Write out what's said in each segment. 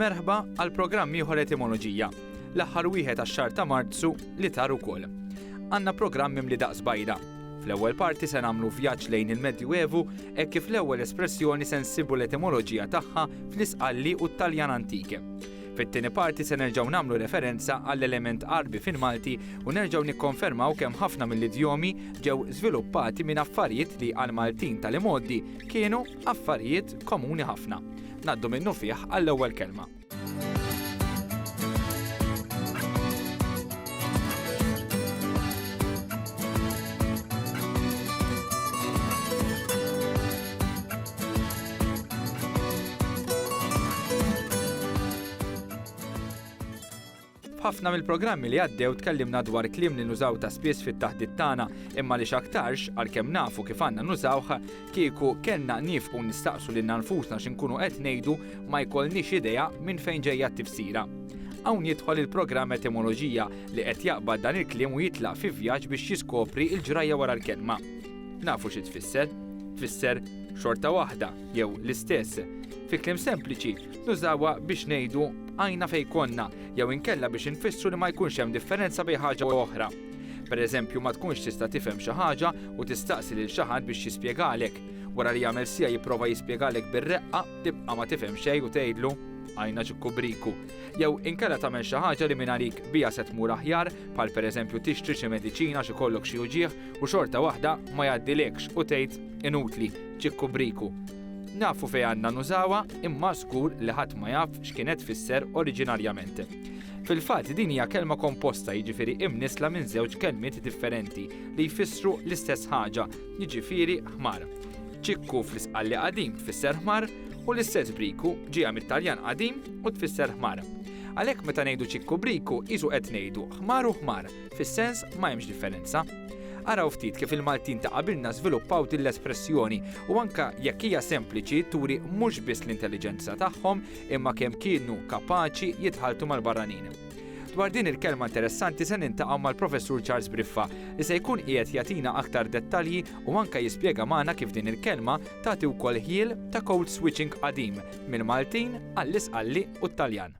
Merħba għal programm ieħor etimoloġija. L-aħħar wieħed għax-xahar ta' Marzu li tar ukoll. Għandna programm mimli daqs bajda. Fl-ewwel parti se nagħmlu vjaġġ lejn il-Medju Evu hekk kif l-ewwel espressjoni se nsibu l-etimoloġija tagħha fl-Isqalli u t-Taljan Antike. Fit-tieni parti se nerġgħu nagħmlu referenza għall-element Għarbi fil-Malti u nerġgħu nikkonfermaw kemm ħafna mill-idjomi ġew żviluppati minn affarijiet li għall-Maltin tal-imgħoddi kienu affarijiet komuni ħafna. Ngħaddu minnufih għall-ewwel kelma. F'ħafna mill-programmi li għaddew tkellimna dwar kliem li nużaw ta' spiss fit-taħdit tagħna, imma li x'aktarx għalkemm nafu kif għandna nużawh, kieku kellna nifqu nistaqsu lil nfusna x'inkunu qed ngħidu ma jkollniex idea minn fejn ġejja t-tifsira. Hawn jidħol il-programm etimoloġija li qed jaqbad dan il-kliem u jitlaq fi vjaġġ biex jiskopri l-ġrajja wara l-kelma. Nafu xi tfisser? Tfisser xorta waħda jew l-istess. Fi kliem sempliċi, nużawha biex ngħidu għajna fej konna jew inkella biex infissru li ma jkunx hemm differenza bejn ħaġa u oħra. Per eżempju, ma tkunx tista' tifhem xi ħaġa u tistaqsi lil xi ħadd biex jispjegalek. Wara li jagħmel sija jipprova jispjegalek bir-reqqa, tibqa' ma tifhem xejn u tgħidlu għajna ġikkubriku. Jew inkella tagħmel xi ħaġa li minn għalik bija se tmur aħjar, bħal pereżempju tixtri xi mediċina xi kollok xi uġieħ u xorta waħda ma jgħaddilekx u tgħid inutli, ċikku briku. Nafu fejn għandna nużawha imma żgur li ħadd ma jaf x'kienet tfisser oriġinarjament. Fil-fatt din hija kelma komposta jiġifieri imnissla minn żewġ kelmiet differenti li jfissru l-istess ħaġa, jiġifieri ħmar. Ċikku fl-Isqalli qadim tfisser ħmar u l-istess briku ġieha mit-Taljan qadim u tfisser ħmar. Għalhekk meta ngħidu ċikku briku qisu qed ngħidu ħmar u ħmar Fis-sens ma hemmx differenza. Araw ftit kif il-Maltin ta' qabilna żviluppaw din l-espressjoni u anke jekk hija sempliċi turi mhux biss l-intelliġenza tagħhom imma kemm kienu kapaċi jitħalltu mal-barranin. Dwar din il-kelma interessanti se niltaqgħu mal-Professur Charles Briffa li se jkun qiegħed jagħtina aktar dettalji u anke jispjega magħna kif din il-kelma tagħti wkoll ħjiel ta' code switching qadim mill-Maltin għall-Isqalli u t-Taljan.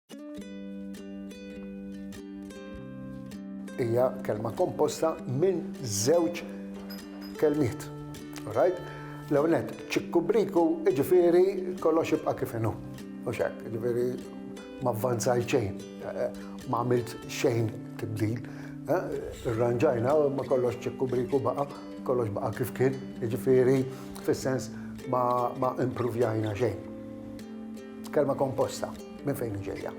Hija kelma komposta minn żewġ kelmiet. Right? L-ewnet, ċikkubriku, ġifiri kollox ibqa' kif inhu. U xek, ġifiri ma avvanzaj xejn, ma għamilt xejn tibdil. Irranġajna ma kollox ċikkubriku baqa, kollox baqa kif kien, ġifiri fis-sens ma impruvjajna xejn. Kelma komposta, minn fejn ġejja?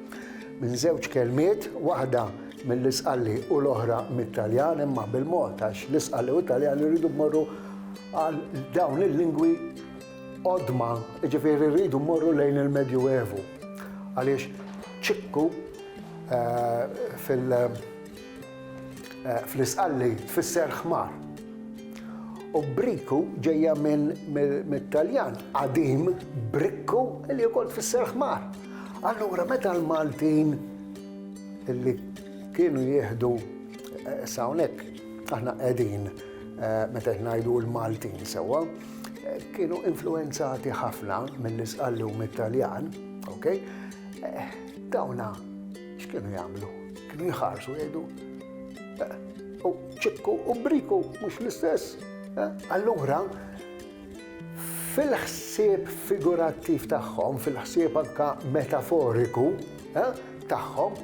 Minn żewġ kelmiet, waħda mill-Isqalli u l-oħra mit-Taljan, imma bil-mod għax l-Isqalli u t-Taljan irridu mmorru għal dawn il-lingwi odma, ġifieri rridu mmorru lejn il-Medju Evu. Għaliex ċikku eh, fil- Fl-Isqalli tfisser ħmar. U briku ġejja mit-Taljan qadim bricco li wkoll tfisser ħmar. Allura meta l-Maltin li kienu jieħdu issa hawnhekk aħna qegħdin meta qed ngħidu l-Maltin sewwa, kienu influwenzati ħafna mill-Isqalli u mit-Taljan, okay? Dawna X'kienu jagħmlu? Kienu jħarsu jgħidu eh, u ċipku u briku mhux l-istess. Eh, allura fil-ħsieb figurattiv tagħhom, fil-ħsieb anka metaforiku eh, tagħhom,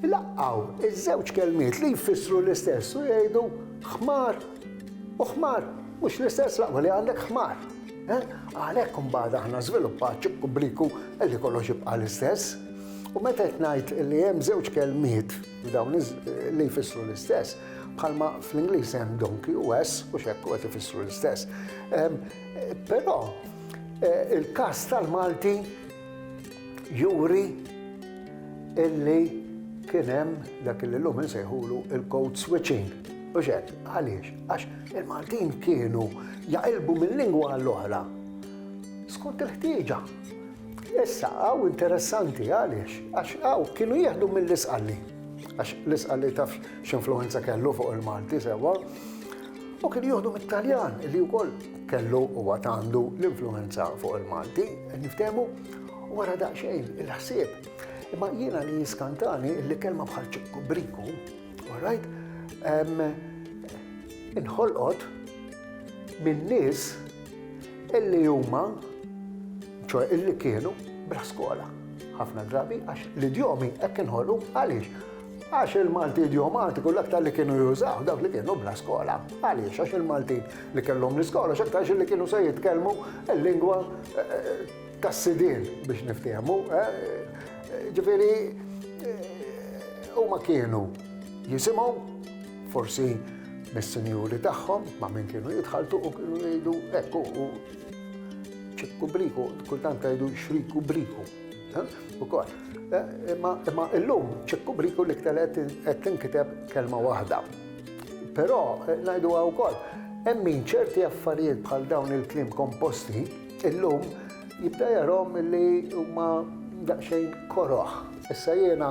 laqqaw iż-żewġ kelmiet li jfissru l-istess u jgħidu ħmar u ħmar, mhux l-istess laqwa li għandek ħmar. Eh, għalhekk imbagħad aħna żviluppat ċibku bliku li kollox jibqa' l-istess. U meta qed ngħid li hemm żewġ kelmiet f'dawn li jfissru l-istess, bħalma fl-Ingliż hemm donkey u ass u x'hekk qed ifissru l-istess. Ehm, però eh, il-każ tal-Malti juri illi kien hemm dak li llum insejħulu il-code switching. U xek, għaliex, għax il-Maltin kienu jaqilbu minn lingwa għall-oħra. Skont il-ħtieġa. Issa għaw interessanti għaliex, għax għaw kienu jieħdu mill-isqalli. Għax l-isqalli taf x'influenza kellu fuq il-Malti sewa. U kienu jieħdu mit-Taljan li wkoll kellu u għatandu l-influenza fuq il-Malti, niftemu, wara daqxejn il-ħsieb. Imma jiena li jiskantani li kelma bħal ċikku briku, right? Inħolqot minn nis illi huma, ċoe illi kienu bla skola ħafna drabi għax l-idjomi hekk inħolqu għaliex. Għax il-Malti idjomatiku l-aktar li kienu jużaw dawk li kienu bla skola. Għaliex għax il-Malti li kellhom l-iskola x'aktarx li kienu se jitkellmu l-lingwa eh, eh, tas-sidien biex niftehmu. Eh, ġifieri huma kienu jisimgħu Forsi mis-sinjuri tagħhom ma' min kienu jitħaltu u kienu jgħidu ekku u ċikku briku, kultant jgħidu xriku briku. U kol. Imma illum ċikku briku li ktelet qed tinkiteb kelma waħda. Però ngħidu għaw kol, hemm min ċerti affarijiet bħal dawn il-klim komposti illum jibda jarom li huma daqsxejn koroħ. Issa jiena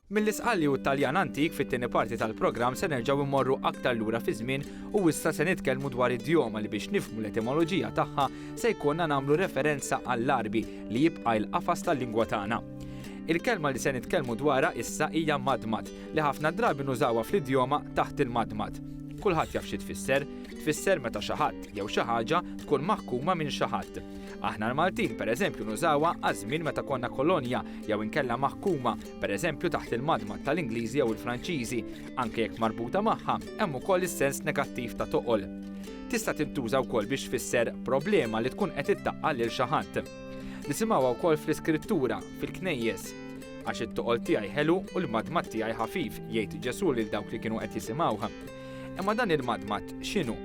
Mill-iżqalli u t-Taljan antik fit-tieni parti tal-programm se nerġgħu mmorru aktar lura fiż-żmien u issa se nitkellmu dwar id-djoma li biex nifhmu l-etimoloġija tagħha se jkollna nagħmlu referenza għall-Għarbi li jibqa' il-qafas tal-lingwa tagħna. Il-kelma li se nitkellmu dwarha issa hija madmad li ħafna drabi nużawha fl-idjoma taħt il-madmad. Kulħadd jaf xi tfisser. Tfisser meta xi ħadd jew xi ħaġa tkun maħkuma minn xi ħadd. Aħna l-Maltin pereżempju nużawha għaż-żmien meta konna kolonja jew inkella maħkuma per eżempju taħt il-madmad tal-Ingliżi jew il-Franċiżi, anke jekk marbuta magħha, hemm ukoll is-sens negattiv ta' toqol. Tista' tintuża wkoll biex tfisser problema li tkun qed iddaqqa lil xi ħadd. Nisimgħuha wkoll fl-Iskrittura, fil-knejjes. Għax it-toqol tiegħi ħelu u l-madmad tiegħi ħafif, jgħid Ġesù lil dawk li kienu qed jisimgħuh. Imma dan il-madmad x'inhu?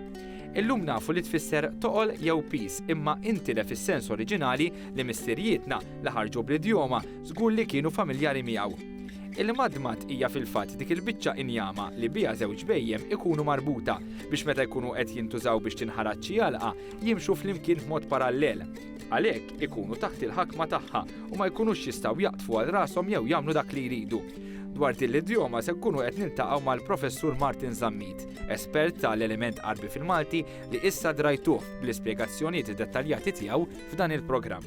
Illum nafu li tfisser toqol jew pis imma intilef is-sens oriġinali li missirijietna li ħarġu bl-idjoma Żgur li kienu familjari miegħu. Il-madmad hija fil-fatt dik il-biċċa injama li biha żewġ bhejjem ikunu marbuta biex meta jkunu qed jintużaw biex tinħarat xi għalqa jimxu flimkien b'mod parallel. Għalhekk ikunu taħt il-ħakma tagħha u ma jkunux jistgħu jaqdfu għal rashom jew jagħmlu dak li jridu. Dwar din l-idjoma se nkunu qed niltaqgħu mal-Professur Martin Zammit, espert tal-element Għarbi fil-Malti li issa drajtuh bl-ispjegazzjonijiet dettaljati tiegħu f'dan il-programm.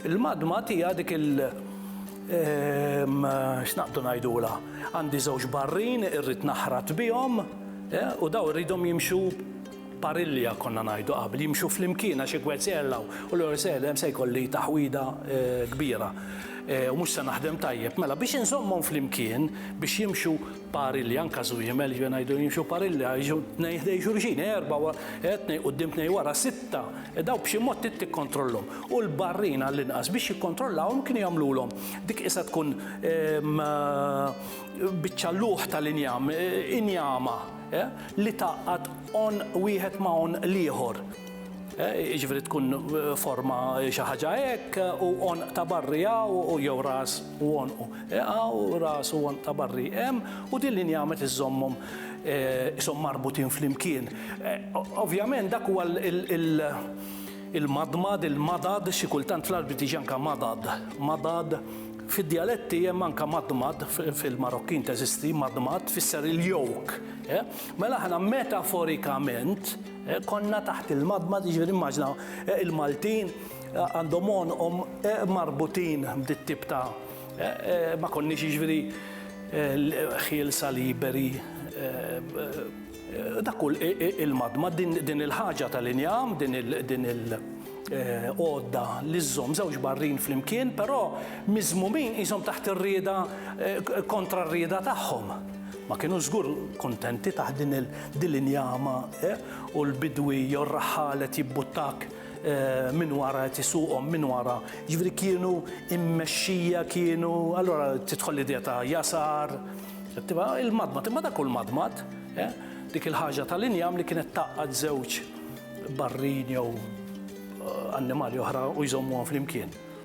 Il-magma tiha dik il x'naqdu ngħidulha, għandi żewġ barrin irrid naħrat bihom u dawn irridhom jimxu parilja konna ngħidu qabel, jimxu flimkien għax jekk wieħed se jgħella hawn u l-ieħor se jgħella hemm se jkolli taħwida kbira u mhux se naħdem tajjeb. Mela biex inżommhom flimkien biex jimxu Pari li anka żu jimel ġifier ngħidu jimxu pari li għajxu tnejn ħdej xulxin, erba' wa, eh, tnejn quddiem tnejn wara, sitta, eh, daw b'xi mod trid tikkontrollhom. U l-barrin għall-inqas biex jikkontrollawhom kienu jagħmlulhom dik qisha tkun, ehm, biċċa lugħ tal-injam, eh, injama, eh, li tgħaqqad għonq wieħed ma' għonq l-ieħor. jiġifieri tkun forma xi ħaġa hekk u għonq ta' barri hawn u jew ras u għonqu hawn u ras u għonq ta' barri hemm u din linja għamet iżżommhom ishom marbutin flimkien. Ovvjament dak huwa il-madmad, il-madad, xi kultant fl-Għarbi tiġi anke madad, madad. Fid-djaletti hemm anke madmad, fil-Marokkin teżisti madmad, tfisser il-yoke. Mela aħna metaforikament, Konna taħt il-madmad, jiġifieri immaġina il-Maltin għandhom għonqhom marbutin b'dit tip ta' ma konniex jiġifieri ħielsa liberi dak kull il-madmad din il-ħaġa tal-injam, din il-għodda li żżomm żewġ barrin flimkien, però miżmumin qishom taħt ir-rieda kontra r-rieda tagħhom. Ma kienu żgur kuntenti taħt din il-din l-injama u l-bidwi jew r-raħħal qed jibbuttak minn wara qed isuqhom minn wara. Jiġifieri kienu mmexxija kienu allura tidħol l-idea ta' jasar, tibqa' il-madmad imma dak hu l-madmad, dik il-ħaġa tal-injam li kienet tgħaqqad żewġ barrin jew annimali oħra u jżommuhom flimkien.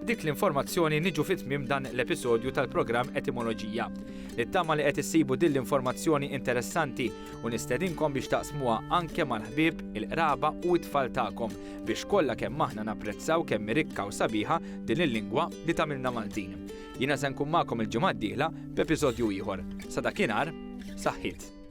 B'dik l-informazzjoni niġu fi tmiem dan l-episodju tal-programm Etimoloġija. Nittama li qed issibu din l-informazzjoni interessanti u nistedinkom biex taqsmuha anke mal-ħbieb, il-qraba u t-tfal tagħkom biex kollha kemm aħna napprezzaw kemm hi rikka u sabiħa din il-lingwa li tagħmilna Maltin. Jiena se nkun magħkom il-ġimgħa d-dieħla b'episodju ieħor. Sa dakinhar, saħħiet!